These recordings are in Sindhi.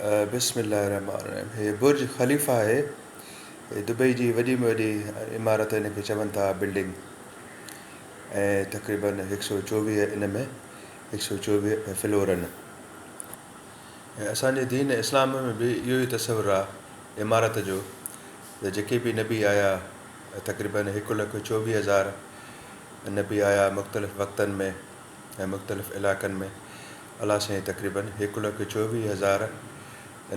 بسم الله الرحمٰن الرحيم هي برج خليفه آهي هي دبئي جي وڏي ۾ وڏي عمارت هن کي چون ٿا بلڊنگ ۽ تقريبن هڪ سؤ چوويهه ان ۾ هڪ سؤ چوويهه فلور ان ۽ اسان جي دين اسلام ۾ به اهو ئي تصور آهي عمارت جو ته جيڪي به نبي آيا تقريبن هڪ لک چوويهه هزار نبي آيا مختلف وقتن ۾ ۽ مختلف علاقن ۾ الله سائين تقريباً هڪ لک چوويهه هزار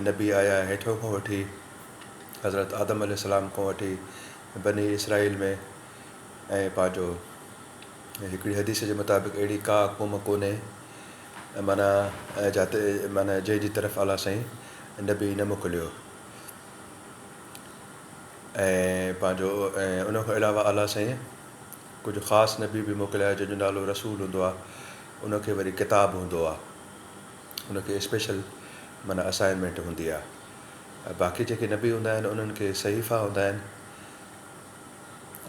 نبي آيا ۽ هيٺون کان وٺي حضرت آدم عليه السلام کان وٺي بني اسرائيل ۾ ۽ پنهنجو هڪڙي حديث جي مطابق اهڙي ڪا قوم ڪونهي معنيٰ جاتي معنيٰ جنهن جي طرف الله سائين نبي نه موڪليو ۽ پنهنجو ۽ ان کان علاوه الله سائين ڪجهه خاص نبي به موڪليا جنهن جو نالو رسول هوندو آهي ان کي وري ڪتاب هوندو آ ان کي اسپيشل معنيٰ اسائنمينٽ هوندي آ ۽ باقي جيڪي نبي هوندا آهن انهن کي صحيفا هوندا آهن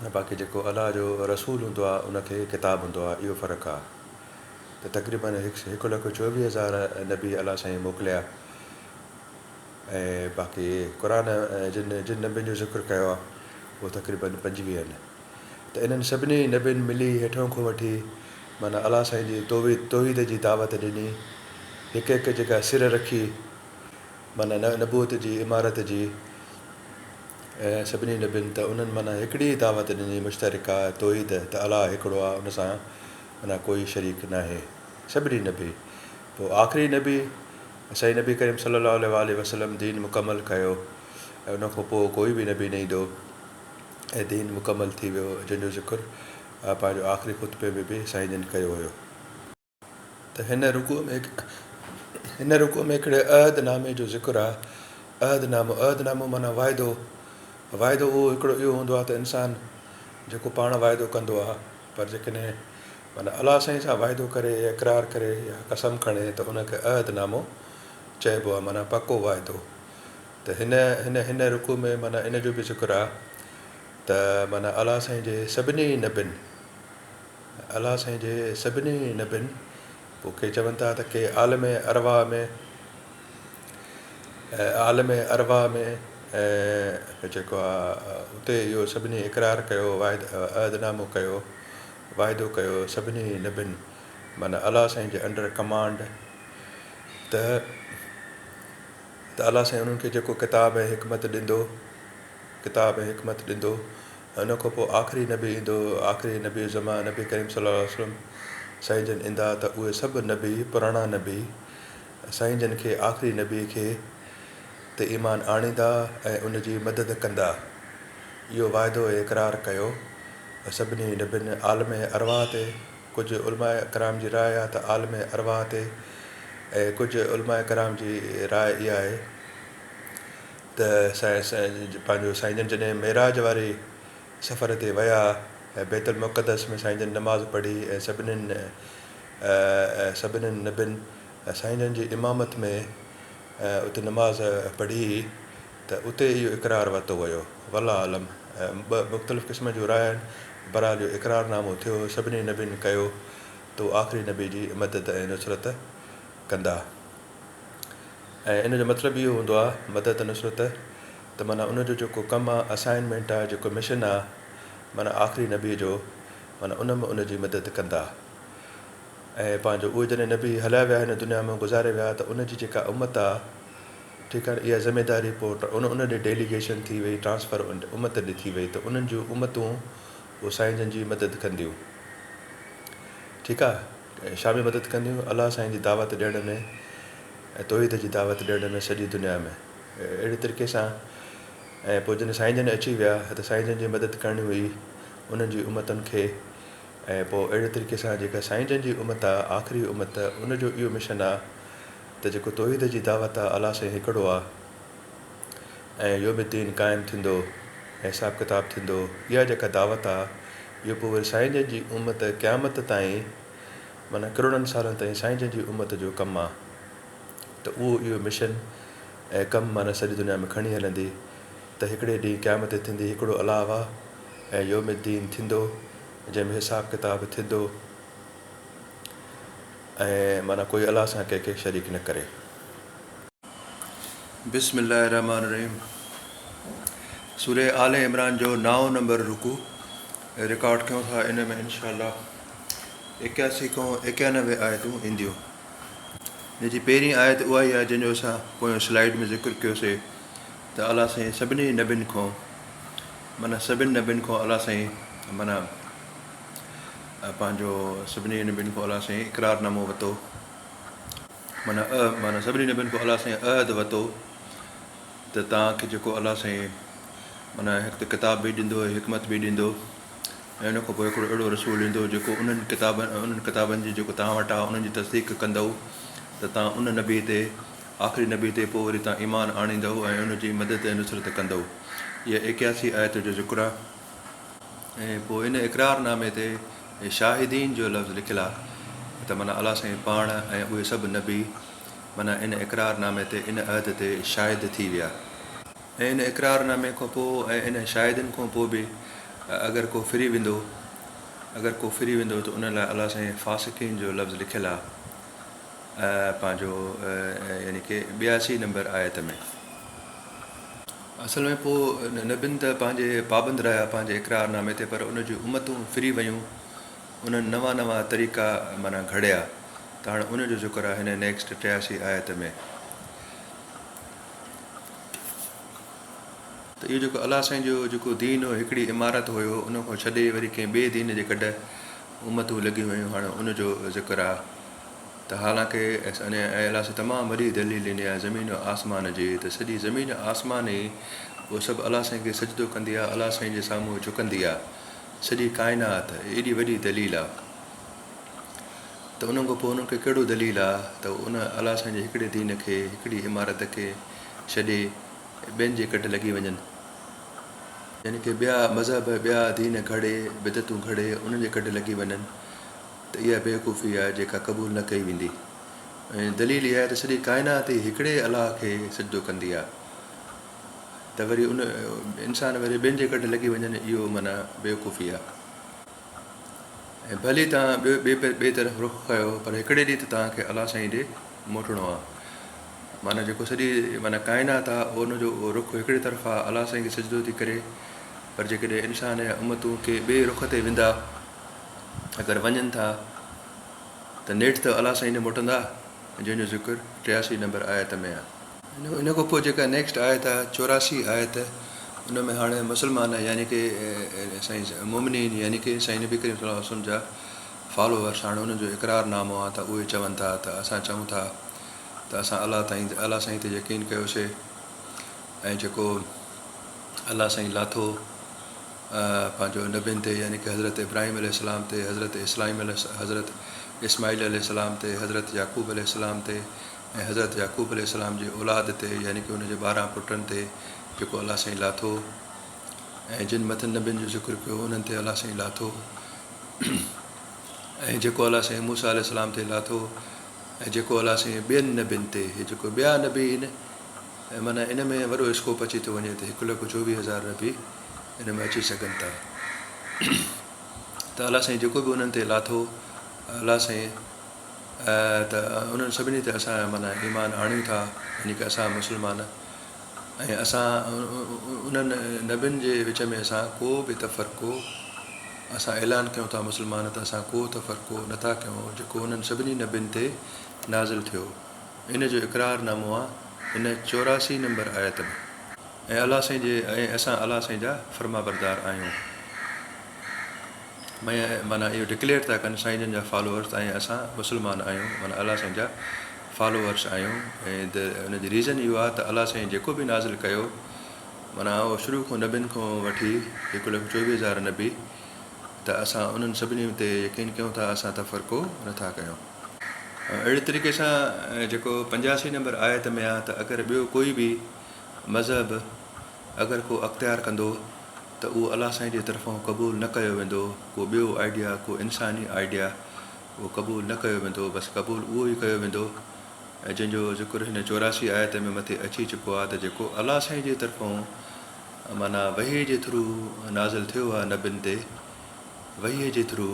۽ باقي جيڪو الله جو رسول هوندو آ ان کي ڪتاب هوندو آ اهو فرق آ ته تقريبن هڪ لک چوويهه هزار نبي الله سائين موڪليا ۽ باقي قرآن جن جن نبين جو ذڪر ڪيو آ اهو تقريبن پنجويهن ته انهن سڀني نبين ملي هيٺئون کان وٺي معنيٰ الله سائين جي توحيد جي دعوت ڏني. هڪ هڪ جيڪا سر رکي معنيٰ نبوت جي عمارت جي ۽ سڀني نبين ته انهن معنيٰ هڪڙي ئي دعوت ڏني مشترڪه توحيد ته الله هڪڙو آهي ان سان معنيٰ ڪوئي شريڪ ناهي سڀني نبي پوء آخري نبي سائين نبي ڪريم صلي الله عليه وآله وسلم دين مڪمل ڪيو ۽ ان کان پوء ڪوئي به نبي نه ايندو. ۽ دين مڪمل ٿي ويو جنهن جو ذڪر پنهنجو آخري خطبي ۾ به سائين جن ڪيو هيو ته هن رڪوع ۾ هن رڪوع ۾ هڪڙي عهد نامي جو ذڪر آهي عهد نامو عهد نامو معنيٰ واعدو واعدو اهو هڪڙو اهو هوندو آهي ته انسان جيڪو پاڻ واعدو ڪندو آهي پر جيڪڏهن معنيٰ الله سائين سان واعدو ڪري يا اقرار ڪري يا قسم کڻي ته ان کي عهد نامو چئبو آهي معنيٰ پڪو واعدو ته هن هن هن رڪوع ۾ معنيٰ ان جو به ذڪر آ ته معنيٰ الله سائين جي سڀني نبين الله سائين جي سڀني نبين پوء ڪي چون ٿا ته ڪي عالم ارواح ۾ عالم ارواح ۾ ۽ جيڪو آ اتي اهو سڀني اقرار ڪيو واحد عهد نامو ڪيو واعدو ڪيو سڀني نبين معنيٰ الله سائين جي انڊر ڪمانڊ ته ته الله سائين انهن کي جيڪو ڪتاب ۽ حڪمت ڏيندو، ڪتاب ۽ حڪمت ڏيندو ۽ ان کان پوء آخري نبي ايندو، آخري نبي الزمان نبي ڪريم صلي الله عليه وسلم سائين جن ايندا ته اهي سڀ نبي، پراڻا نبي، سائين جن کي آخري نبي کي تي ايمان آڻيندا ۽ ان جي مدد ڪندا. اهو واعدو ۽ اقرار ڪيو ۽ سڀني نبين عالم ارواح تي. ڪجهه علماء ڪرام جي راء آهي ته عالم ارواح تي ۽ ڪجهه علماء ڪرام جي راء اها آهي ته پنهنجو سائين جن جڏهن معراج واري سفر تي ويا ۽ بيت المقدس ۾ سائين جن نماز پڙهي ۽ سڀنين سڀنين نبين سائين جن جي امامت ۾ اتي نماز پڙهي ته اتي اهو اقرار ورتو ويو. والله اعلم ٻه مختلف قسمن جون راء آهن، بهرحال جو اقرار نامو ٿيو، سڀني نبين ڪيو تو آخري نبي جي مدد ۽ نصرت ڪندا ۽ ان جو مطلب اهو هوندو آ مدد نصرت ته معنيٰ ان جو جيڪو ڪم آ اسائنمينٽ آ جيڪو مشن آ معنيٰ آخري نبي جو معنيٰ ان م ان جي مدد ڪندا ۽ پنهنجو اهي جڏهن نبي هليا ويا هن دنيا م گذاري ويا ته ان جي جيڪا امت آ جي ڪاڻ اها ذميداري پوء ان ان ڏي ڊيليگيشن ٿي وئي، ٽرانسفر ان امت ڏي ٿي وئي ته انهن جون امتون پوء سائين جن جي مدد ڪنديون. ٺيڪ آ؟ ڇا ۾ مدد ڪنديون؟ الله سائين جي دعوت ڏيڻ ۾ ۽ توحيد جي دعوت ڏيڻ ۾ سڄي دنيا ۾ اهڙي طريقي سان ۽ پوء جڏهن سائين جن اچي ويا ته سائين جن جي مدد ڪرڻي هئي انهن جي امتن کي ۽ پوء اهڙي طريقي سان جيڪا سائين جن جي امت آ آخري امت ان جو اهو مشن آ ته جيڪو توحيد جي دعوت آ الله سائين هڪڙو آ ۽ يوم الدين قائم ٿيندو ۽ حساب ڪتاب ٿيندو اها جيڪا دعوت آ اهو پوء وري سائين جن جي امت قيامت تائين معنيٰ ڪروڙن سالن تائين سائين جن جي امت جو ڪم آ ته اهو اهو مشن ۽ ڪم معنيٰ سڄي دنيا ۾ کڻي هلندي ته هڪڙي ڏينهن قيامت ٿيندي هڪڙو الله آ ۽ يوم الدين ٿيندو جنهن ۾ حساب ڪتاب ٿيندو. ۽ معنيٰ ڪوئي الله سان ڪنهن کي شريڪ نه ڪري. بسم الله الرحمٰن الرحيم سورة آل عمران جو نائون نمبر رڪوع رڪارڊ ڪيون ٿا ان ۾ انشاء الله ايڪياسي کان ايڪيانوي آيتون اينديون ان جي پهرين آيت اها ئي آهي جنهن جو اسان پويان سلائيڊ ۾ ذڪر ڪيو سي ته الله سائين سڀني نبين کان معنيٰ سڀين نبين کان الله سائين معنيٰ پنهنجو سڀني نبين کان الله سائين اقرار نامو وتو معنيٰ معنيٰ سڀني نبين کان الله سائين عهد وتو ته توهان کي جيڪو الله سائين معنيٰ هڪ ته ڪتاب به ڏيندو حڪمت به ڏيندو ۽ ان کان پوء هڪڙو اهڙو رسول ايندو جيڪو انهن ڪتابن انهن ڪتابن جي جيڪو توهان وٽ آهي انهن جي تصديق ڪندو ته توهان ان نبي تي آخري نبي تي پوء وري توهان ايمان آڻيندو ۽ ان جي مدد ۽ نصرت ڪندو اها ايڪياسي آيت جو ذڪر آهي ۽ پوء ان اقرار نامي تي شاهدين جو لفظ لکيل آ ته معنيٰ الله سائين پاڻ ۽ اهي سڀ نبي معنيٰ ان اقرار نامي تي ان عهد تي شاهد ٿي ويا ۽ ان اقرار نامي کان پوء ۽ انهن شاهدين کان پوء به اگر ڪو ڦري ويندو اگر ڪو ڦري ويندو ته ان لاء الله سائين فاسقين جو لفظ لکيل آ پنهنجو يعني ڪي ٻياسي نمبر آيت ۾. اصل ۾ پوء نبين ته پنهنجي پابند رهيا پنهنجي اقرار نامي تي پر ان جون امتون ڦري ويون انهن نوان نوان طريقا معنيٰ گهڙيا ته هاڻي ان جو ذڪر آهي هن نيڪسٽ ٽياسي آيت ۾. ته اهو جيڪو الله سائين جو جيڪو دين هو هڪڙي عمارت هيو ان کان ڇڏي وري ڪنهن ٻئي دين جي گڏ امتون لڳيون ويون هاڻي ان جو ذڪر آهي. ته حالانڪه اس ان احلاس تمام وڏي دليل ڏني آهي زمين و آسمان جي ته سڄي زمين و آسمان ئي اهو سڀ الله سائين کي سجدو ڪندي آهي الله سائين جي سامهون جهڪندي آهي سڄي ڪائنات ايڏي وڏي دليل آهي ته انهن کان پوء انهن کي ڪهڙو دليل آهي ته هو ان الله سائين جي هڪڙي دين کي هڪڙي عمارت کي ڇڏي ٻين جي ڪڍ لڳي وڃن يعني ڪي ٻيا مذهب ٻيا دين گهڙي بدعتون گهڙي انهن جي ڪڍ لڳي وڃن. ته اها بيوقوفي آهي جيڪا قبول نه ڪئي ويندي ۽ دليل اها آهي ته سڄي ڪائنات ئي هڪڙي الله کي سجدو ڪندي آهي ته وري ان انسان وري ٻين جي ڪڍ لڳي وڃن اهو معنيٰ بيوقوفي آهي ۽ ڀلي توهان ٻئي ٻئي طرف رخ ڪيو پر هڪڙي ڏينهن ته توهان کي الله سائين ڏي موٽڻو آهي معنيٰ جيڪو سڄي معنيٰ ڪائنات آهي ان جو رخ هڪڙي طرف آهي الله سائين کي سجدو ٿي ڪري پر جيڪڏهن انسان يا امتون ڪي ٻئي رخ تي ويندا اگر وڃن ٿا ته نيٺ ته الله سائين ڏي موٽندا جنهن جو ذڪر ٽياسي نمبر آيت ۾ آهي. ان کان پوء جيڪا نيڪسٽ آيت آهي چوراسي آيت ان ۾ هاڻي مسلمان يعني ڪي سائين مومنين يعني ڪي سائين نبي ڪريم صلي الله وسلم جا فالوورس هاڻي انهن جو اقرار نامو آهي ته اهي چون ٿا ته اسان چئون ٿا ته اسان الله تائين الله سائين تي يقين ڪيوسي ۽ جيڪو الله سائين لاٿو پنهنجو نبين تي يعني ڪه حضرت ابراهيم عليه السلام تي، حضرت اسلائيم عليه حضرت اسماعيل عليه السلام تي، حضرت يعقوب عليه السلام تي ۽ حضرت يعقوب عليه السلام جي اولاد تي يعني ڪه ان جي ٻارهن پٽن تي جيڪو الله سائين لاٿو ۽ جن مٿن نبين جو ذڪر ڪيو انهن تي الله سائين لاٿو ۽ جيڪو الله سائين موسيٰ عليه السلام تي لاٿو ۽ جيڪو الله سائين ٻين نبين تي هي جيڪو ٻيا نبي هن معنيٰ ان ۾ وڏو اسڪوپ اچي ٿو وڃي ته هڪ لک چوويهه هزار نبي ان ۾ اچي سگهن ٿا ته الله سائين جيڪو به انهن تي لاٿو الله سائين ته انهن سڀني تي اسان مانا ايمان آڻيون ٿا يعني ڪي اسان مسلمان ۽ اسان انهن نبين جي وچ ۾ اسان ڪو به تفرقو اسان اعلان ڪيون ٿا مسلمان ته اسان ڪو تفرقو نٿا ڪيون جيڪو انهن سڀني نبين تي نازل ٿيو ان جو اقرار نامو آهي هن چوراسي نمبر آيت ۾. اي الله سائين جي ۽ اسان الله سائين جا فرمانبردار آهيون مئن معنيٰ اهو ڊڪليئر ٿا ڪن سائين جن جا فالوورس ۽ اسان مسلمان آهيون معنيٰ الله سائين جا فالوورس آهيون ۽ the ان جي ريزن اهو آهي ته الله سائين جيڪو به نازل ڪيو معنيٰ اهو شروع کان نبين کان وٺي هڪ لک چوويهه هزار نبي ته اسان انهن سڀني تي يقين ڪيون ٿا اسان تفرقو نه ٿا ڪيون. اهڙي طريقي سان جيڪو پنجاسي نمبر آيت ۾ آهي ته اگر ٻيو ڪوئي به مذهب اگر ڪو اختيار ڪندو ته اهو الله سائين جي طرفان قبول نه ڪيو ويندو ڪو ٻيو آئيڊيا ڪو انساني آئيڊيا اهو قبول نه ڪيو ويندو بس قبول اهو ئي ڪيو ويندو ۽ جنهن جو ذڪر هن چوراسي آيت ۾ مٿي اچي چڪو آهي ته جيڪو الله سائين جي طرفان معنيٰ وحي جي ٿرو نازل ٿيو آهي نبين تي وحي جي ٿرو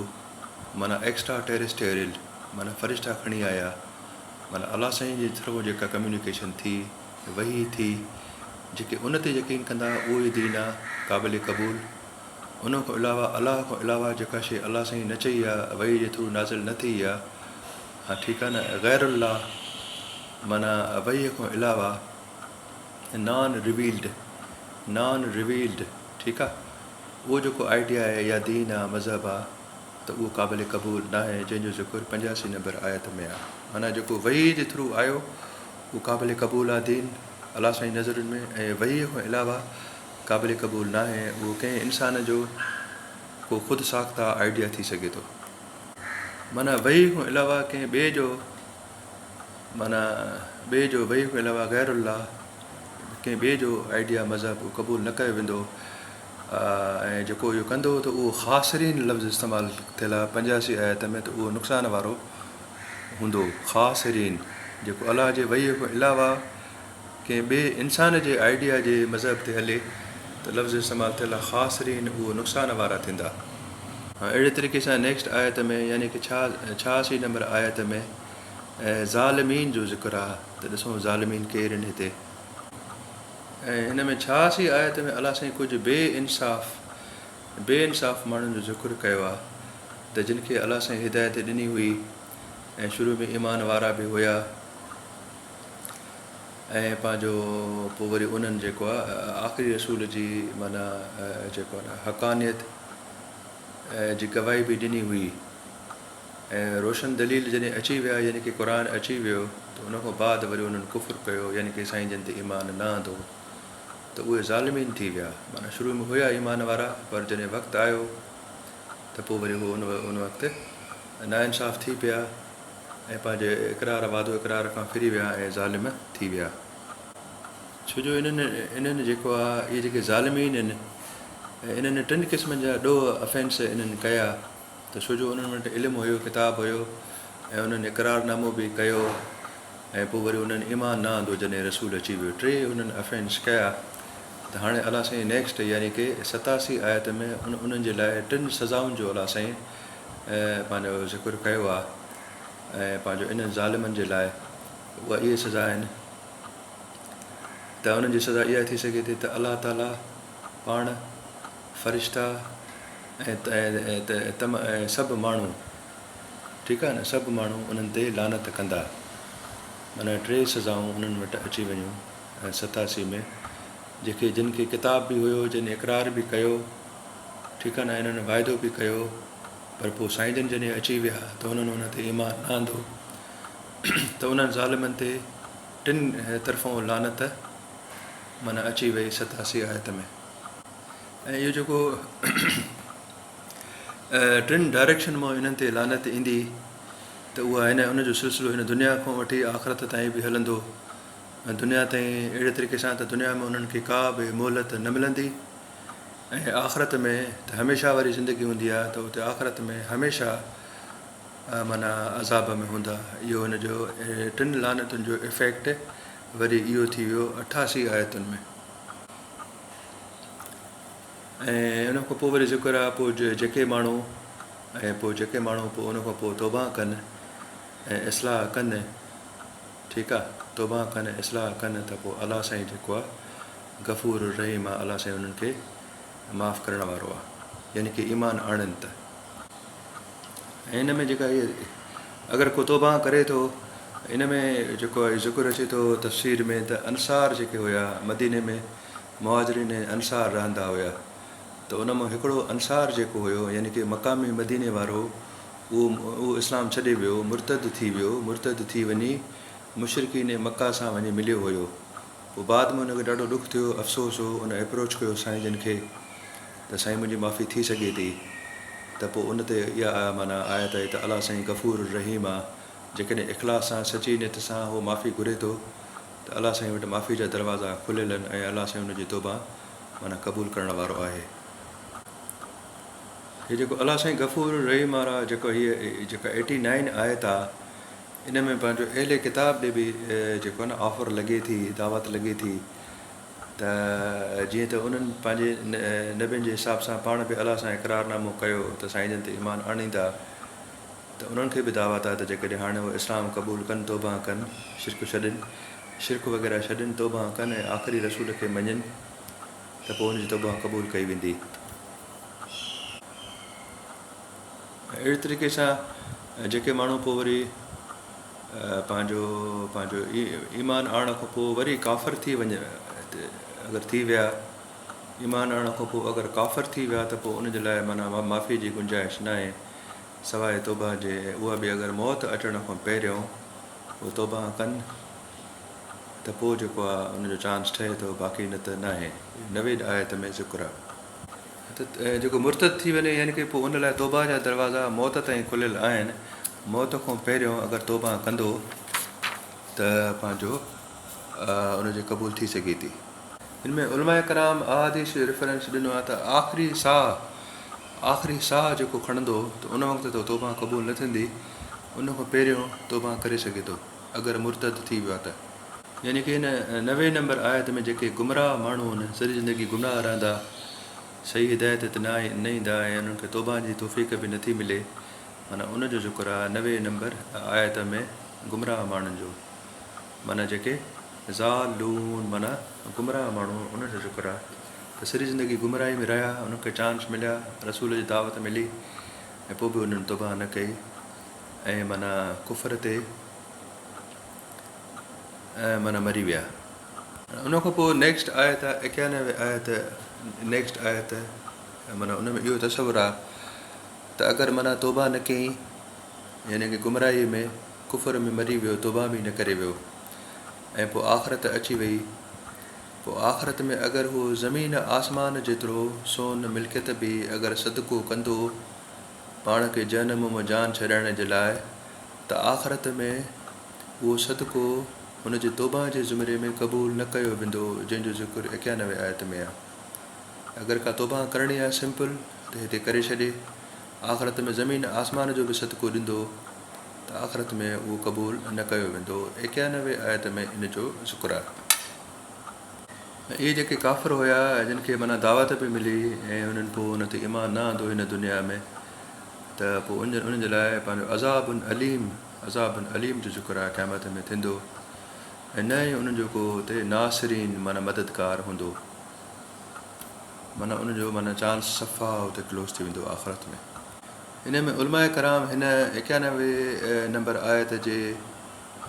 معنيٰ ايڪسٽرا ٽيريسٽيريل معنيٰ فرشتا کڻي آيا معنيٰ الله سائين جي طرفان جيڪا ڪميونيڪيشن ٿي وحي ٿي، جيڪي ان تي يقين ڪندا اهي دين آ قابل قبول، ان کان علاوه الله کان علاوه جيڪا شيء الله سائين نه چئي آ وحي جي ٿرو نازل نه ٿئي آ ها ٺيڪ آ نه غير الله معنيٰ وحي کان علاوه نان ريويلڊ نان ريويلڊ ٺيڪ آ اهو جيڪو آئيڊيا آهي يا دين آ مذهب آ ته اهو قابل قبول ناهي جنهن جو ذڪر پنجاسي نمبر آيت ۾ آ معنيٰ جيڪو وحي جي ٿرو آيو هو قابل قبول آهي دين الله سائين جي نظرن ۾ ۽ وحيء کان علاوه قابل قبول ناهي ۽ اهو ڪنهن انسان جو ڪو خود ساخته آئيڊيا ٿي سگهي ٿو معنيٰ وحيء کان علاوه ڪنهن ٻئي جو معنيٰ ٻئي جو وحيء کان علاوه غير الله ڪنهن ٻئي جو آئيڊيا مذهب قبول نه ڪيو ويندو ۽ جيڪو اهو ڪندو ته اهو خاسرين لفظ استعمال ٿيل آهي پنجاسي آيت ۾ ته اهو نقصان وارو هوندو خاص هيرين جيڪو الله جي وحي کان علاوه ڪنهن ٻئي انسان جي آئيڊيا جي مذهب تي هلي ته لفظ استعمال ٿيل آهي خاص هيرين اهو نقصان وارا ٿيندا ۽ اهڙي طريقي سان نيڪسٽ آيت ۾ يعني ڪه ڇهاسي نمبر آيت ۾ ظالمين جو ذڪر آهي ته ڏسون ظالمين ڪير آهن هتي ۽ هن ۾ ڇهاسي آيت ۾ الله سائين ڪجهه بي انصاف بي انصاف ماڻهن جو ذڪر ڪيو آ ته جن کي الله سائين هدايت ڏني هئي ۽ شروع ۾ ايمان وارا به هيا ۽ پنهنجو پوء وري انهن جيڪو آ آخري رسول جي معنيٰ جيڪو آ حقانيت جي گواهي به ڏني هئي ۽ روشن دليل جڏهن اچي ويا يعني ڪي قرآن اچي ويو ته ان کان بعد وري انهن ڪفر ڪيو يعني ڪي سائين جن تي ايمان نه آندو ته اهي ظالمين ٿي ويا، معنيٰ شروع ۾ هيا ايمان وارا پر جڏهن وقت آيو ته پوء وري هو ان وقت ناانصاف ٿي پيا ۽ پنهنجي اقرار، وعدو اقرار، کان ڦري ويا ۽ ظالم ٿي ويا. ڇو جو انهن، انهن، جيڪو آ، اهي جيڪي ظالمين هن، انهن ٽن قسمن جا ڏوهه، Offence، انهن ڪيا. ته ڇو جو انهن وٽ علم هيو، ڪتاب هيو ۽ انهن اقرار نامو به ڪيو ۽ پوء وري انهن ايمان نه آندو جڏهن رسول اچي ويو ٽي انهن افينس ڪيا ته هاڻي الله سائين نيڪسٽ يعني ڪي ستاسي آيت ۾ ان انهن جي لاء ٽن سزائن جو الله سائين پنهنجو ذڪر ڪيو آهي ۽ پنهنجو انهن ظالمن جي لاء اها اهي سزا آهن ته انهن جي سزا اها ٿي سگهي ٿي ته الله تعالي پاڻ فرشتا ۽ سڀ ماڻهو ٺيڪ آهي نه سڀ ماڻهو انهن تي لعنت ڪندا معنيٰ ٽي سزائون انهن وٽ اچي وڃيون ۽ ستاسي ۾ جيڪي جن کي ڪتاب به هيو جن اقرار به ڪيو ٺيڪ آهي نه انهن واعدو به ڪيو پر پوء سائين جن جڏهن اچي ويا ته انهن ان تي ايمان نه آندو ته انهن ظالمن تي ٽن طرفون لعنت معنيٰ اچي وئي ستاسي آيت ۾ ۽ اهو جيڪو ٽن ڊائريڪشن مان انهن تي لعنت ايندي ته اها هن ان جو سلسلو هن دنيا کان وٺي آخرت تائين به هلندو ۽ دنيا تائين اهڙي طريقي سان ته دنيا ۾ انهن کي ڪا به مهلت نه ملندي ۽ آخرت ۾ ته هميشه واري زندگي هوندي آهي ته اتي آخرت ۾ هميشه مانا عذاب ۾ هوندا اهو هن جو ٽن لعنتن جو افيڪٽ وري اهو ٿي ويو اٺاسي آيتن ۾ ۽ ان کان پوء وري ذڪر آ پوء جيڪي ماڻهو ۽ پوء جيڪي ماڻهو پوء ان کان پوء توبه ڪن ۽ اصلاح ڪن ٺيڪ آ توبه ڪن ۽ اصلاح ڪن ته پوء الله سائين جيڪو آ غفور الرحيم آ الله سائين انهن کي معاف ڪرڻ وارو آ يعني ڪي ايمان آڻن ته ۽ ان ۾ جيڪا هيء اگر ڪو توبهان ڪري ٿو، ان ۾ جيڪو آهي ذڪر اچي ٿو تفسير ۾ ته انصار جيڪي هيا مديني ۾ مهاجرين ۽ انصار رهندا هيا ته ان مان هڪڙو انصار جيڪو هيو يعني ڪي مقامي مديني وارو اهو اهو اسلام ڇڏي ويو مرتد ٿي ويو مرتد ٿي وڃي مشرڪين مڪه سان وڃي مليو هيو پوء بعد ۾ ان کي ڏاڍو ڏک ٿيو افسوس هو ان اپروچ ڪيو سائين جن کي ته سائين منهنجي معافي ٿي سگهي ٿي ته پوء ان تي اها معنيٰ آيت آهي ته الله سائين غفور الرحيم آ جيڪڏهن اخلاص سان سچي نيت سان هو معافي گهري ٿو ته الله سائين وٽ معافي جا دروازا کليل آهن ۽ الله سائين ان جي توبه معنيٰ قبول ڪرڻ وارو آهي هي جيڪو الله سائين غفور الرحيم آ را جيڪو هي جيڪا ايٽي نائين آيت آ ان ۾ پنهنجو اهل ڪتاب ڏي به جيڪو آهي نه آفر لڳي ٿي دعوت لڳي ٿي ته جيئن ته انهن پنهنجي نبين جي حساب سان پاڻ به الله سان اقرار نامو ڪيو ته سائين جن تي ايمان آڻيندا ته انهن کي به دعوت آهي ته جيڪڏهن هاڻي اهي اسلام قبول ڪن توبهان ڪن شرڪ ڇڏين شرڪ وغيره ڇڏين توبهان ڪن ۽ آخري رسول کي مڃين ته پوء ان جي توبهان قبول ڪئي ويندي ۽ اهڙي طريقي سان جيڪي ماڻهو پوء وري پنهنجو پنهنجو ايمان آڻڻ کان پوء وري ڪافر ٿي وڃ اگر ٿي ويا ايمان آڻڻ کان پوء اگر ڪافر ٿي ويا ته پوء ان جي لاء معنيٰ معافي جي گنجائش ناهي سواء توبهه جي اها به اگر موت اچڻ کان پهريون اهو توبهه ڪن ته پوء جيڪو آهي ان جو چانس ٺهي ٿو باقي نه ته ناهي نوي آيت ۾ ذڪر آهي. جيڪو مرتد ٿي وڃي يعني ڪي پوء ان لاء توبه جا دروازا موت تائين کليل آهن، موت کان پهريون اگر توبه ڪندو ته پنهنجو ان جي قبول ٿي سگهي ٿي. ان ۾ علماء ڪرام احاديث جو ريفرنس ڏنو آهي ته آخري ساهه آخري ساهه جيڪو کڻندو ته ان وقت ته توبه قبول نه ٿيندي، ان کان پهريون توبه ڪري سگهي ٿو اگر مرتد ٿي ويو آهي ته. يعني ڪي هن نوي نمبر آيت ۾ جيڪي گمراهه ماڻهو هن سڄي زندگي گمراهه رهندا صحيح هدايت تي نه نه ايندا ۽ انهن کي توبهان جي توفيق به نٿي ملي معنيٰ ان جو ذڪر آهي نوي نمبر آيت ۾ گمراهه ماڻهن جو معنيٰ جيڪي ضالون معنيٰ گمراهه ماڻهو انهن جو ذڪر آهي ته سڄي زندگي گمراهي ۾ رهيا انهن کي چانس مليا رسول جي دعوت ملي ۽ پوء به انهن توبهان نه ڪئي ۽ معنيٰ ڪفر تي ۽ من مري ويا. ان کان پوء نيڪسٽ آيت آهي ايڪيانوي آيت نيڪسٽ آيت ۽ من ان ۾ اهو تصور آهي ته اگر من توبه نه ڪئي يعني ڪي گمراهي ۾ ڪفر ۾ مري ويو توبه به نه ڪري ويو ۽ پوء آخرت اچي وئي پوء آخرت ۾ اگر هو زمين آسمان جيترو سون ملڪيت به اگر صدقو ڪندو پاڻ کي جهنم مان جان ڇڏائڻ جي لاء ته آخرت ۾ اهو صدقو هن جي توبهه جي زمري ۾ قبول نه ڪيو ويندو جنهن جو ذڪر ايڪيانوي آيت ۾ آهي. اگر ڪا توبهه ڪرڻي آهي سمپل ته هتي ڪري ڇڏي. آخرت ۾ زمين آسمان جو به صدقو ڏيندو ته آخرت ۾ اهو قبول نه ڪيو ويندو ايڪيانوي آيت ۾ ان جو ذڪر آهي. اهي جيڪي ڪافر هيا جن کي معنيٰ دعوت به ملي ۽ انهن پوء ان تي ايمان نه آندو هن دنيا ۾ ته پوء انهن جي لاء پنهنجو عذاب عليم، عذاب عليم، جو ذڪر آهي قيامت ۾ ٿيندو ۽ نه ئي انهن جو ڪو اتي ناصرين معنيٰ مددگار هوندو معنيٰ انهن جو معنيٰ چانس صفا اتي ڪلوز ٿي ويندو آخرت ۾ ان ۾ علماء ڪرام هن ايڪيانوي نمبر آيت جي.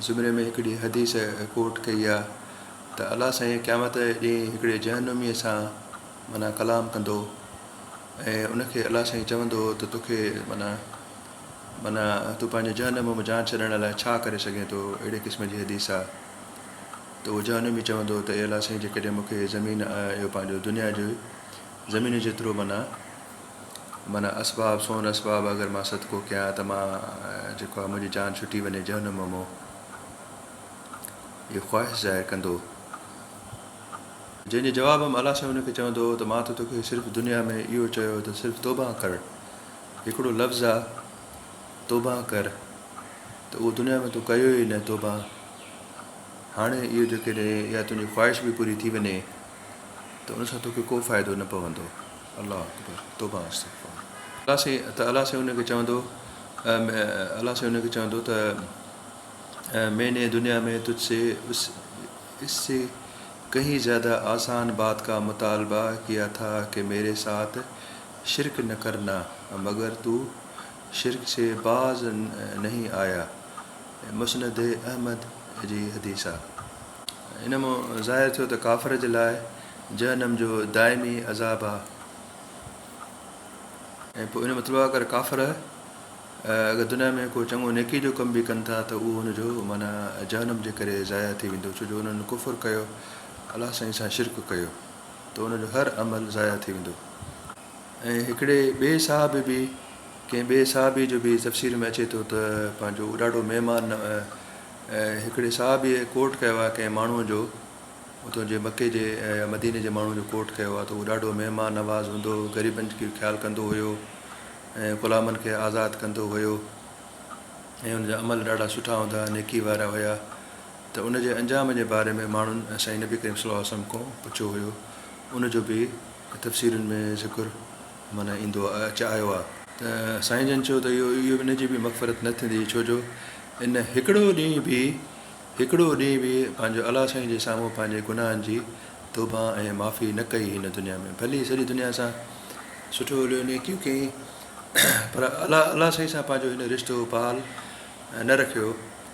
زمري ۾ هڪڙي حديث ڪوٽ ڪئي آ ته الله سائين قيامت جي ڏينهن هڪڙي جهنميء سان معنيٰ ڪلام ڪندو ۽ ان کي الله سائين چوندو ته توکي معنيٰ معنيٰ تون پنهنجي جهنم م جان ڇڏڻ لاء ڇا ڪري سگهين ٿو اهڙي قسم جي حديث آ ته اهو جهنمي چوندو ته اي الله سائين جيڪڏهن مون کي زمين اهو پنهنجو دنيا جو زمين جيترو معنيٰ معنيٰ اسباب سون اسباب اگر مان صدقو ڪيان ته مان جيڪو آهي منهنجي جان ڇٽي وڃي جهنم مئو اهي خواهش ظاهر ڪندو هو جنهن جي جواب ۾ الله سائين ان کي چوندو هو ته مان ته توکي صرف دنيا ۾ اهو چيو ته صرف توبه ڪر هڪڙو لفظ آ توبه ڪر ته اهو دنيا ۾ تو ڪيو ئي نه توبه هاڻي اهو جو ڪڏهن اها تنهنجي خواهش به پوري ٿي وڃي ته ان سان توکي ڪو فائدو نه پوندو. الله اڪبر توبه استغفار. الله سائين ته الله سائين ان کي چوندو الله سائين ان کي چوندو ته مين ني دنيا مين تجھ سي اس اس سي ڪهين زياده آسان بات ڪا مطالبه ڪيا ٿا ڪه ميري ساٿ شرڪ نه ڪر نا مگر تو شرڪ سي باز نهين آيا مسند احمد جي حديث آ. ان مان ظاهر ٿيو ته ڪافر جي لاء جهنم جو دائمي عذاب آهي ۽ پوء ان جو مطلب آهي اگر ڪافر اگر دنيا ۾ ڪو چڱو نيڪي جو ڪم به ڪن ٿا ته اهو ان جو معنيٰ جهنم جي ڪري ضايع ٿي ويندو ڇو جو انهن ڪفر ڪيو الله سائين سان شرڪ ڪيو ته ان جو هر عمل ضايع ٿي ويندو ۽ هڪڙي ٻئي صحابي به ڪنهن ٻئي صحابي جو به تفسير ۾ اچي ٿو ته پنهنجو ڏاڍو مهمان هڪڙي صحابيء ڪوٽ ڪيو آهي ڪنهن ماڻهوء جو، اتو جي مڪي جي يا مديني جي ماڻهوء جو ڪوٽ ڪيو آهي ته اهو ڏاڍو مهمان نواز هوندو هو، غريبن جو خيال ڪندو هيو ۽ غلامن کي آزاد ڪندو هيو ۽ ان جا عمل ڏاڍا سٺا هوندا ها، نيڪي وارا هيا ته ان جي انجام جي باري ۾ ماڻهن سائين نبي ڪريم صلي الله عليه وسلم کون پڇيو هيو، ان جو به تفسيرن ۾ ذڪر. من ايندو اچ آيو آ. ته سائين جن چيو ته اهو اهو ان جي به مغفرت نه ٿيندي ڇو جو ان هڪڙو ڏينهن به هڪڙو ڏينهن به پنهنجو الله سائين جي سامهون پنهنجي گناهن جي توبه ۽ معافي نه ڪئي هن دنيا ۾ ڀلي سڄي دنيا سان سٺو هليو نيڪيون ڪيائين پر الله الله سائين سان پنهنجو هن رشتو بحال نه رکيو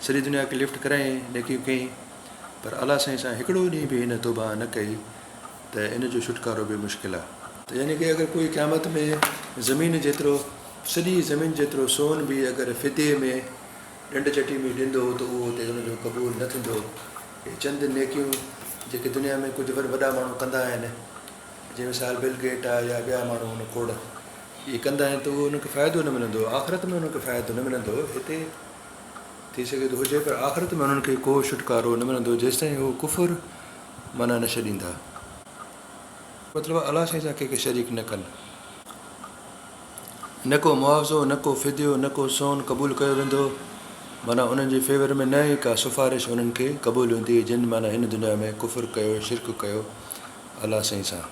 سڄي دنيا کي لفٽ ڪرايائين نيڪيون ڪيائين پر الله سائين سان هڪڙو ڏينهن به هن توبه نه ڪئي ته ان جو ڇوٽڪارو به مشڪل آ. ته يعني ڪه اگر ڪوئي قيامت ۾ زمين جيترو سڄي زمين جيترو سون به اگر فديي ۾ ڏنڊ چٽي ۾ ڏيندو ته اهو اتي ان جو قبول نه ٿيندو. اهي چند نيڪيون جيڪي دنيا ۾ ڪجهه وڏ وڏا ماڻهو ڪندا آهن جي مثال بل گيٽ آ يا ٻيا ماڻهو ان کوڙ اهي ڪندا آهن ته اهو انهن کي فائدو نه ملندو آخرت ۾ انهن کي فائدو نه ملندو هتي ٿي سگهي ٿو هجي پر آخرت ۾ انهن کي ڪو ڇوٽڪارو نه ملندو جيستائين هو ڪفر معنيٰ نه ڇڏيندا. مطلب الله سائين سان ڪنهن کي شريڪ نه ڪن. نه ڪو معاوضو، نه ڪو فديو، نه ڪو سون قبول ڪيو ويندو. معنيٰ انهن جي فيور ۾ نه ئي ڪا سفارش انهن کي قبول هوندي جن معنيٰ هن دنيا ۾ ڪفر ڪيو، شرڪ ڪيو الله سائين سان.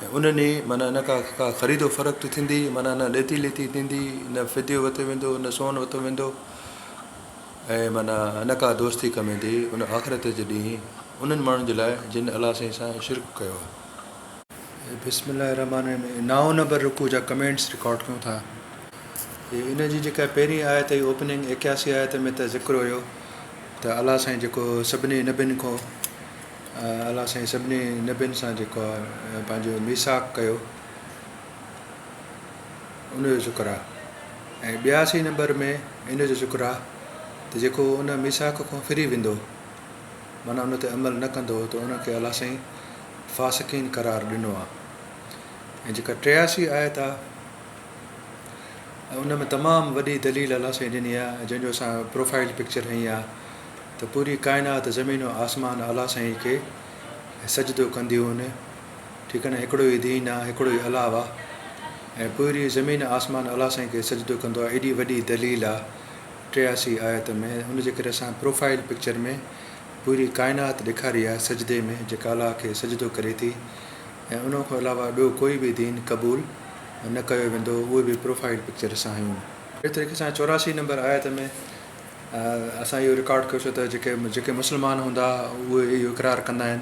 ۽ انهن ئي معنيٰ نه ڪا ڪا خريد و فرقت ٿيندي، معنيٰ نه ڏيتي ليتي ٿيندي، نه فديو وتو ويندو، نه سون وتو ويندو. ۽ معنيٰ نه ڪا دوستي ڪم ايندي ان آخرت جي ڏينهن انهن ماڻهن جي لاء جن الله سائين سان شرڪ ڪيو آهي. بسم الله الرحمٰن الرحيم نائون نمبر رڪوع جا ڪمينٽس رڪارڊ ڪيون ٿا ۽ ان جي جيڪا پهرين آيت هئي اوپننگ ايڪياسي آيت ۾ ته ذڪر هيو ته الله سائين جيڪو سڀني نبين کون الله سائين سڀني نبين سان جيڪو پنهنجو ميثاق ڪيو ان جو شڪر آ ۽ ٻياسي نمبر ۾ ان جو شڪر آ ته جيڪو ان ميثاق کان ڦري ويندو معنيٰ ان تي عمل نه ڪندو ته ان کي الله سائين فاسقين قرار ڏنو آ ۽ جيڪا ٽياسي آيت آ ان ۾ تمام وڏي دليل الله سائين ڏني آ جنهن جو اسان پروفائل پڪچر هنئي آ ته پوري ڪائنات زمين و آسمان الله سائين کي سجدو ڪنديون ان ٺيڪ آهي نه هڪڙو ئي دين آ هڪڙو ئي الله آ ۽ پوري زمين آسمان الله سائين کي سجدو ڪندو آ ايڏي وڏي دليل آ ٽياسي آيت ۾ ان جي ڪري اسان پروفائيل پڪچر ۾ پوري ڪائنات ڏيکاري آ سجدي ۾ جيڪا الله کي سجدو ڪري ٿي ۽ ان کان علاوه ٻيو ڪوئي به دين قبول نه ڪيو ويندو اهي به پروفائيل پڪچر سان هيون. اهڙي طريقي سان چوراسي نمبر آيت ۾ اسان اهو رڪارڊ ڪيو سو ته جيڪي جيڪي مسلمان هوندا اهي اهو اقرار ڪندا آهن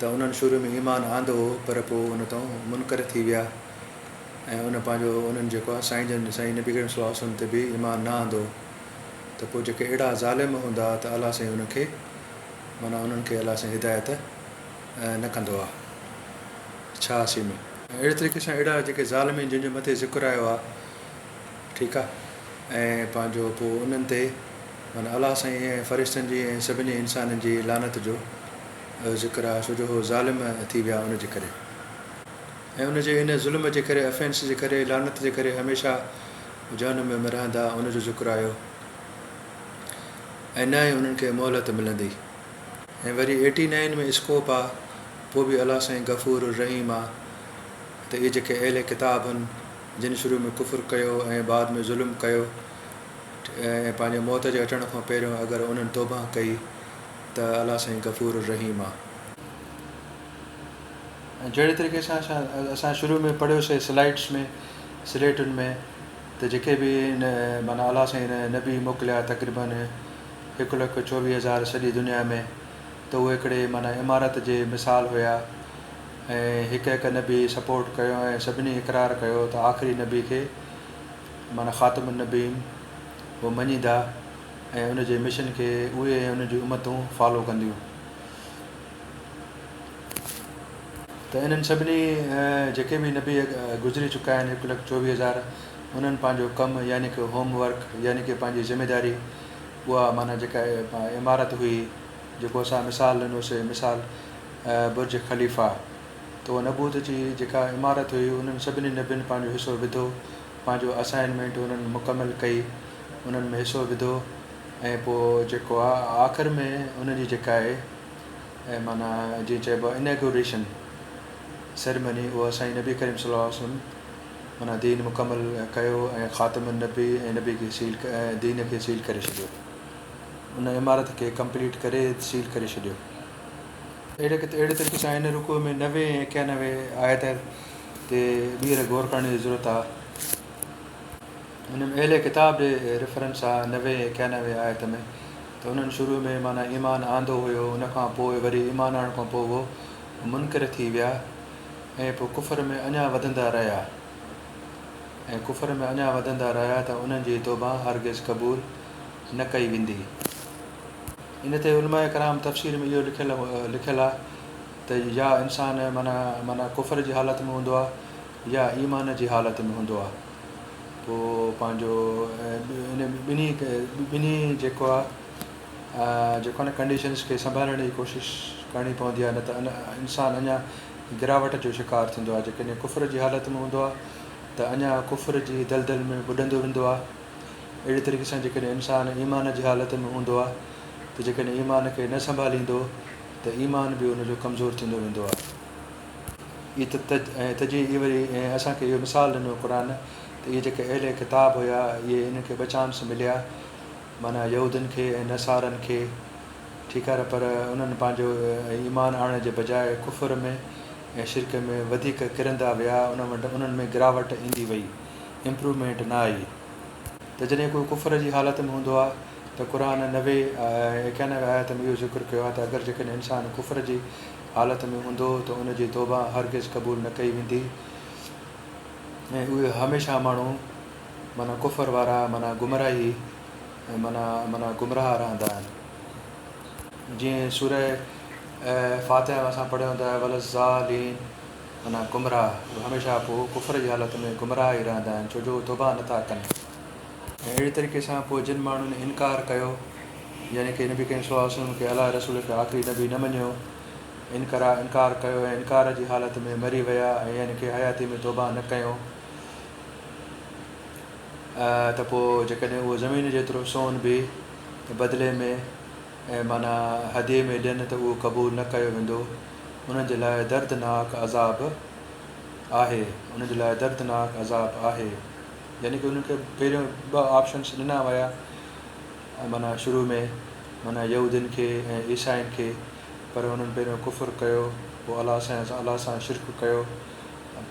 ته انهن شروع ۾ ايمان آندو هو پر پوء ان تان منڪر ٿي ويا ۽ ان پنهنجو انهن جيڪو آهي سائين جن سائين نبي ڪريم صلي الله عليه وسلم تي به ايمان نه آندو ته پوء جيڪي اهڙا ظالم هوندا ته الله سائين انهن کي معنيٰ انهن کي الله سائين هدايت نه ڪندو آ ڇا اسين ۾ اهڙي طريقي سان اهڙا جيڪي ظالمين جن جو مٿي ذڪر آيو آ ٺيڪ آ ۽ پنهنجو پوء انهن تي معنيٰ الله سائين ۽ فرشتن جي ۽ سڀني انسانن جي لعنت جو ذڪر آهي سو جو هو ظالم ٿي ويا ان جي ڪري ۽ ان جي ان ظلم جي ڪري افينس جي ڪري لعنت جي ڪري هميشه جهنم ۾ رهندا ان جو ذڪر آيو ۽ نه ئي انهن کي مهلت ملندي ۽ وري ايٽي نائن ۾ اسڪوپ آ پوء به الله سائين غفور الرحيم آ ته اهي جيڪي اهل ڪتاب هن جن شروع ۾ ڪفر ڪيو ۽ بعد ۾ ظلم ڪيو ۽ پنهنجي موت جي اچڻ کان پهريون اگر انهن توبه ڪئي ته الله سائين غفور الرحيم آ. ۽ جهڙي طريقي سان اسان اسان شروع ۾ پڙهيوسي سلائيڊس ۾ سليٽن ۾ ته جيڪي به ان معنيٰ الله سائين ان نبي موڪليا تقريباً هڪ لک چوويهه هزار سڄي دنيا ۾ ته اهي هڪڙي معنيٰ عمارت جي مثال هيا ۽ هڪ هڪ نبي سپورٽ ڪيو ۽ سڀني اقرار ڪيو ته آخري نبي کي معنيٰ خاتم النبين و مڃيندا ۽ ان جي مشن کي اهي ۽ انهن جون امتون فالو ڪنديون ته انهن سڀني جيڪي به نبي گذري چڪا آهن هڪ لک چوويهه هزار انهن پنهنجو ڪم يعني ڪه هوم ورڪ يعني ڪه پنهنجي ذميداري اها معنيٰ جيڪا عمارت هئي جيڪو اسان مثال ڏنو سي مثال برج خليفه تو نبوت جي جيڪا عمارت هئي انهن سڀني نبين پنهنجو حصو وڌو پنهنجو اسائنمينٽ انهن مڪمل ڪئي انهن ۾ حصو وڌو ۽ پوء جيڪو آ آخر ۾ ان جي جيڪا آهي ۽ معنيٰ جيئن چئبو آهي اناگوريشن سيريمني اها سائين نبي ڪريم صلي الله عليه وسلم معنيٰ دين مڪمل ڪيو ۽ خاتم النبي ۽ نبي کي سيل دين کي سيل ڪري ڇڏيو ان عمارت کي ڪمپليٽ ڪري سيل ڪري ڇڏيو. اهڙي طريقي سان هن رڪوع ۾ نوي ۽ ايڪانوي آيت تي ٻيهر غور ڪرڻ جي ضرورت آ. هن ۾ اهل ڪتاب جي ريفرنس آ نوي ۽ اڪيانوي آيت ۾ ته انهن شروع ۾ معنيٰ ايمان آندو هيو ان کان پوء وري ايمان آڻڻ کان پوء هو منڪر ٿي ويا ۽ پوء ڪفر ۾ اڃا وڌندا رهيا ۽ ڪفر ۾ اڃا وڌندا رهيا ته انهن جي توبه هرگز قبول نه ڪئي ويندي ان تي علماء ڪرام تفسير ۾ اهو لکيل لکيل آ ته يا انسان معنيٰ معنيٰ ڪفر جي حالت ۾ هوندو آ يا ايمان جي حالت ۾ هوندو آ. پوء پنهنجو ان ٻنهي ٻنهي جيڪو آهي جيڪو آهي نه ڪنڊيشنز کي سنڀالڻ جي ڪوشش ڪرڻي پوندي آهي نه ته انسان اڃا گراوٽ جو شڪار ٿيندو آهي جيڪڏهن ڪفر جي حالت ۾ هوندو آهي ته اڃا ڪفر جي دلدل ۾ ٻڏندو ويندو آهي اهڙي طريقي سان جيڪڏهن انسان ايمان جي حالت ۾ هوندو آهي ته جيڪڏهن ايمان کي نه سنڀاليندو ته ايمان به ان جو ڪمزور ٿيندو ويندو آهي اي ته تج ۽ تجي اي وري ۽ اسان کي اهو مثال ڏنو قرآن ته اهي جيڪي اهل ڪتاب هيا اهي انهن کي بچانس مليا معنيٰ يهودين کي ۽ نصارن کي ٺيڪ آهي پر انهن پنهنجو ۽ ايمان آڻڻ جي بجاء ڪفر ۾ ۽ شرڪ ۾ وڌيڪ ڪرندا ويا انهن وٽ انهن ۾ گراوٽ ايندي وئي امپرومينٽ نه آئي ته جڏهن ڪو ڪفر جي حالت ۾ هوندو آهي ته قرآن نوي ۽ ايڪانوي آيت ۾ اهو ذڪر ڪيو آهي ته اگر جيڪڏهن انسان ڪفر جي حالت ۾ هوندو ته ان جي توبه هرگز قبول نه ڪئي ويندي ۽ اهي هميشه ماڻهو معنيٰ ڪفر وارا معنيٰ گمراهي معنيٰ معنيٰ گمراهه رهندا آهن جيئن سوره فاتحه ۾ اسان پڙهيو ته ولضالين معنيٰ گمراهه اهي هميشه پوء ڪفر جي حالت ۾ گمراهه ئي رهندا آهن ڇو جو توبه نٿا ڪن اهڙي طريقي سان پوء جن ماڻهن انڪار ڪيو، يعني ڪي نبي ڪريم صلي الله عليه وسلم کي الله جي رسول کي آخري نبي نه مڃيو، انڪرا انڪار ڪيو ۽ انڪار جي حالت ۾ مري ويا ۽ يعني ڪي حياتي ۾ توبه نه ڪيو ته پوء جيڪڏهن اهو زمين جيترو سون به بدلي ۾ ۽ معنيٰ هديي ۾ ڏين ته اهو قبول نه ڪيو ويندو انهن جي لاء دردناڪ عذاب آهي انهن جي لاء دردناڪ عذاب آهي. يعني ڪي انهن کي پهريون ٻه آپشنس ڏنا ويا معنيٰ شروع ۾ معنيٰ يهودين کي ۽ عيسائين کي پر انهن پهريون ڪفر ڪيو پوء الله سان الله سان شرڪ ڪيو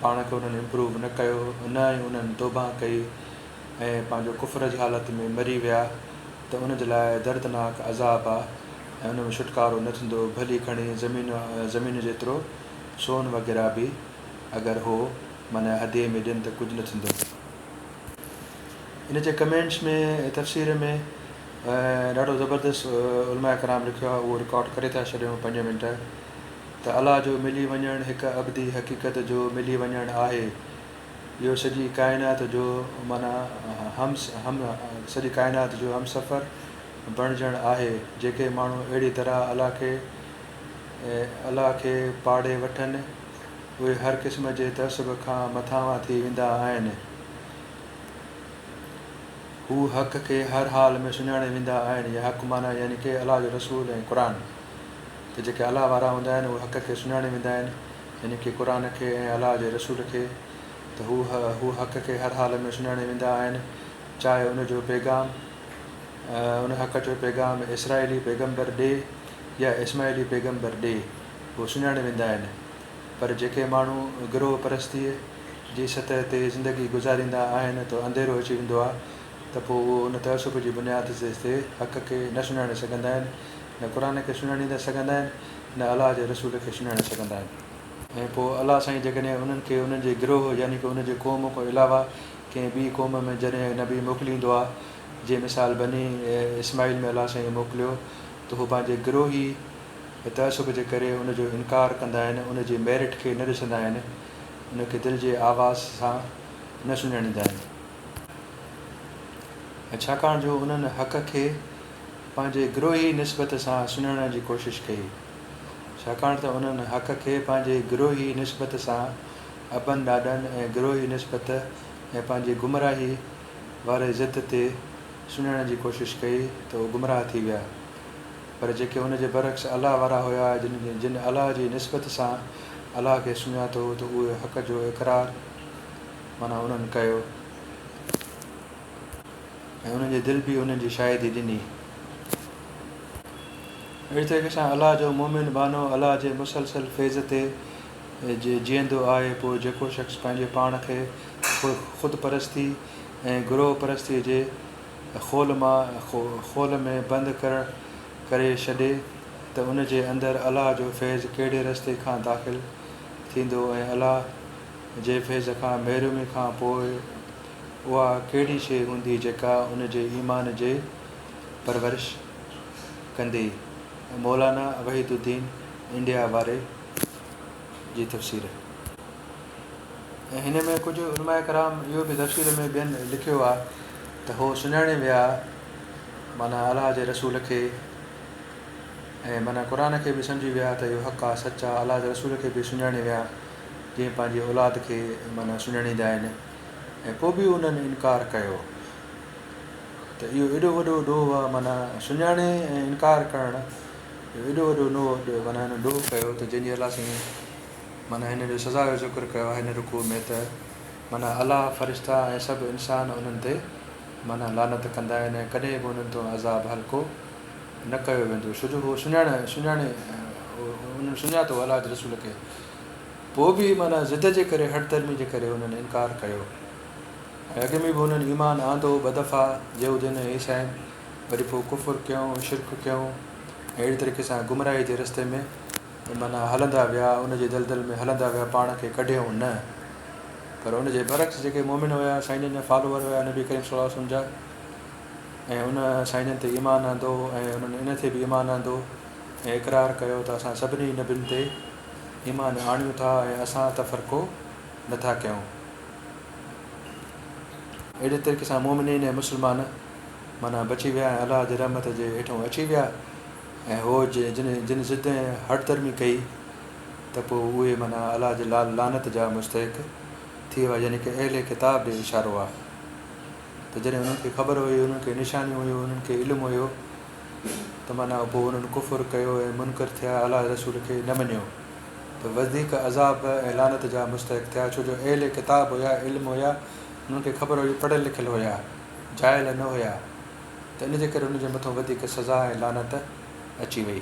پاڻ کي انهن امپروو نه ڪيو نه ۽ انهن توبه ڪئي ۽ پنهنجو ڪفر جي حالت ۾ مري ويا ته انهن جي لاء دردناڪ عذاب آهي ۽ ان ۾ ڇوٽڪارو نه ٿيندو ڀلي گهڻي زمين زمين جيترو سون وغيره به اگر هو من ادي ۾ ڏين ته ڪجهه نه ٿيندو. ان جي ڪمينٽس ۾ تفسير ۾ ڏاڍو زبردست علماء ڪرام لکيو آهي اهو رڪارڊ ڪري ٿا ڇڏيون پنج منٽ ته الله جو ملي وڃڻ هڪ ابدي حقيقت جو ملي وڃڻ آهي اهو سڄي ڪائنات جو من هم هم سڄي ڪائنات جو همسفر بڻجڻ آهي جيڪي ماڻهو اهڙي طرح الله کي الله کي پاڙهي وٺن اهي هر قسم جي تعصب کان مٿانهان ٿي ويندا آهن. هو حق کي هر حال ۾ سڃاڻي ويندا آهن يا حق معنيٰ يعني ڪي الله جو رسول ۽ قرآن. ته جيڪي الله وارا هوندا آهن اهي حق کي سڃاڻي ويندا آهن يعني ڪي قرآن کي ۽ الله جي رسول کي. ته هو هو حق کي هر حال ۾ سڃاڻي ويندا آهن چاهي ان جو پيغام ان حق جو پيغام اسرائيلي پيغمبر ڏي يا اسماعيلي پيغمبر ڏي. هو سڃاڻي ويندا آهن پر جيڪي ماڻهو گروهه پرستيء جي سطح تي زندگي گذاريندا آهن ته انڌيرو اچي ويندو آهي ته پوء اهو ان تعصب جي بنياد تي حق کي نه سڃاڻي سگهندا آهن، نه قرآن کي سڃاڻي نه سگهندا آهن، نه الله جي رسول کي سڃاڻي سگهندا آهن. ۽ پوء الله سائين جيڪڏهن انهن کي انهن جي گروهه يعني ڪه ان جي قوم کان علاوه ڪنهن ٻي قوم ۾ جڏهن نبي موڪليندو آهي جي مثال بني اسماعيل ۾ الله سائين موڪليو ته هو پنهنجي گروهي ۽ تعصب جي ڪري ان جو انڪار ڪندا آهن، ان جي ميرٽ کي نه ڏسندا آهن، ان کي دل جي آواز سان نه سڃاڻيندا آهن ۽ ڇاڪاڻ جو انهن حق کي پنهنجي گروهي نسبت سان سڃاڻڻ جي ڪوشش ڪئي، ڇاڪاڻ ته انهن حق کي پنهنجي گروهي نسبت سان ابن ڏاڏن ۽ گروهي نسبت ۽ پنهنجي گمراهي واري ضد تي سڃاڻڻ جي ڪوشش ڪئي ته اهي گمراهه ٿي ويا. پر جيڪي ان جي برعڪس الله وارا هيا جن جن الله جي نسبت سان الله کي سڃاتو ته اهي حق جو اقرار معنيٰ انهن ڪيو ۽ انهن جي دل به انهن جي شاهدي ڏني. اهڙي طريقي سان الله جو مؤمن ٻانهو الله جي مسلسل فيض تي جيئندو آهي پوء جيڪو شخص پنهنجي پاڻ کي خود پرستي ۽ گروهه پرستي جي خول مان خول ۾ بند ڪرڻ ڪري ڇڏي ته ان جي اندر الله جو فيض ڪهڙي رستي کان داخل ٿيندو ۽ الله جي فيض کان محرومي کان پوء اها ڪهڙي شيء هوندي جيڪا ان جي ايمان جي پرورش ڪندي. مولانا وحيد الدين انڊيا واري جي تفسير. ۽ هن ۾ ڪجهه علماء ڪرام اهو به تفسير ۾ ٻين لکيو آهي ته هو سڃاڻي ويا معنيٰ الله جي رسول کي ۽ معنيٰ قرآن کي به سمجهي ويا ته اهو حق آهي سچ آهي الله جي رسول کي به سڃاڻي ويا جيئن پنهنجي اولاد کي معنيٰ سڃاڻيندا آهن ۽ پوء به انهن انڪار ڪيو ته اهو ايڏو وڏو ڏوهه آهي معنيٰ سڃاڻي ۽ انڪار ڪرڻ اهو ايڏو وڏو ڏوهه معنيٰ هن ڏوهه ڪيو ته جنهن جي الله سائين معنيٰ هن جو سزا جو ذڪر ڪيو آهي هن رڪوع ۾ ته، معنيٰ الله، فرشتا ۽ سڀ انسان انهن تي، معنيٰ لعنت، ڪندا آهن ۽ ڪڏهن به انهن تون عذاب هلڪو نه ڪيو ويندو ڇو جو هو سڃاڻ سڃاڻي انهن سڃاتو الله جي رسول کي پوء به معنيٰ ضد جي ڪري هٺ درمي جي ڪري انهن انڪار ڪيو ۽ اڳ ۾ به انهن ايمان آندو ٻه دفعا يهودين ۽ عيسائين وري پوء ڪفر ڪيو شرڪ ڪيو ۽ اهڙي طريقي سان گمراهي جي رستي ۾ معنيٰ هلندا ويا، ان جي دلدل ۾ هلندا ويا، پاڻ کي ڪڍيائون نه. پر ان جي برعڪس جيڪي مؤمن هيا، سائين جن جا فالوور هيا نبي ڪريم صلي الله عليه وسلم جا ۽ ان سائين جن تي ايمان آندو ۽ انهن ان تي به ايمان آندو ۽ اقرار ڪيو ته اسان سڀني نبين تي ايمان آڻيون ٿا ۽ اسان تفرقو نه ٿا ڪيون. اهڙي طريقي سان مؤمنين ۽ مسلمان معنيٰ بچي ويا ۽ الله جي رحمت جي هيٺون اچي ويا. ۽ هو جي جن جن ضد ۽ هٺ ڌرمي ڪئي ته پوء اهي معنيٰ الله جي لال لعنت جا مستحق ٿي ويا يعني ڪي اهل ڪتاب ڏي اشارو آهي ته جڏهن انهن کي خبر هئي انهن کي نشانيون هيون انهن کي علم هيو ته معنيٰ پوء انهن ڪفر ڪيو ۽ منڪر ٿيا الله جي رسول کي نه مڃيو ته وڌيڪ عذاب ۽ لعنت جا مستحق ٿيا ڇو جو اهل ڪتاب هيا علم هيا انهن کي خبر هئي پڙهيل لکيل هيا جاهل نه هيا. ته ان جي ڪري ان جي مٿان وڌيڪ سزا ۽ لعنت اچي وئي.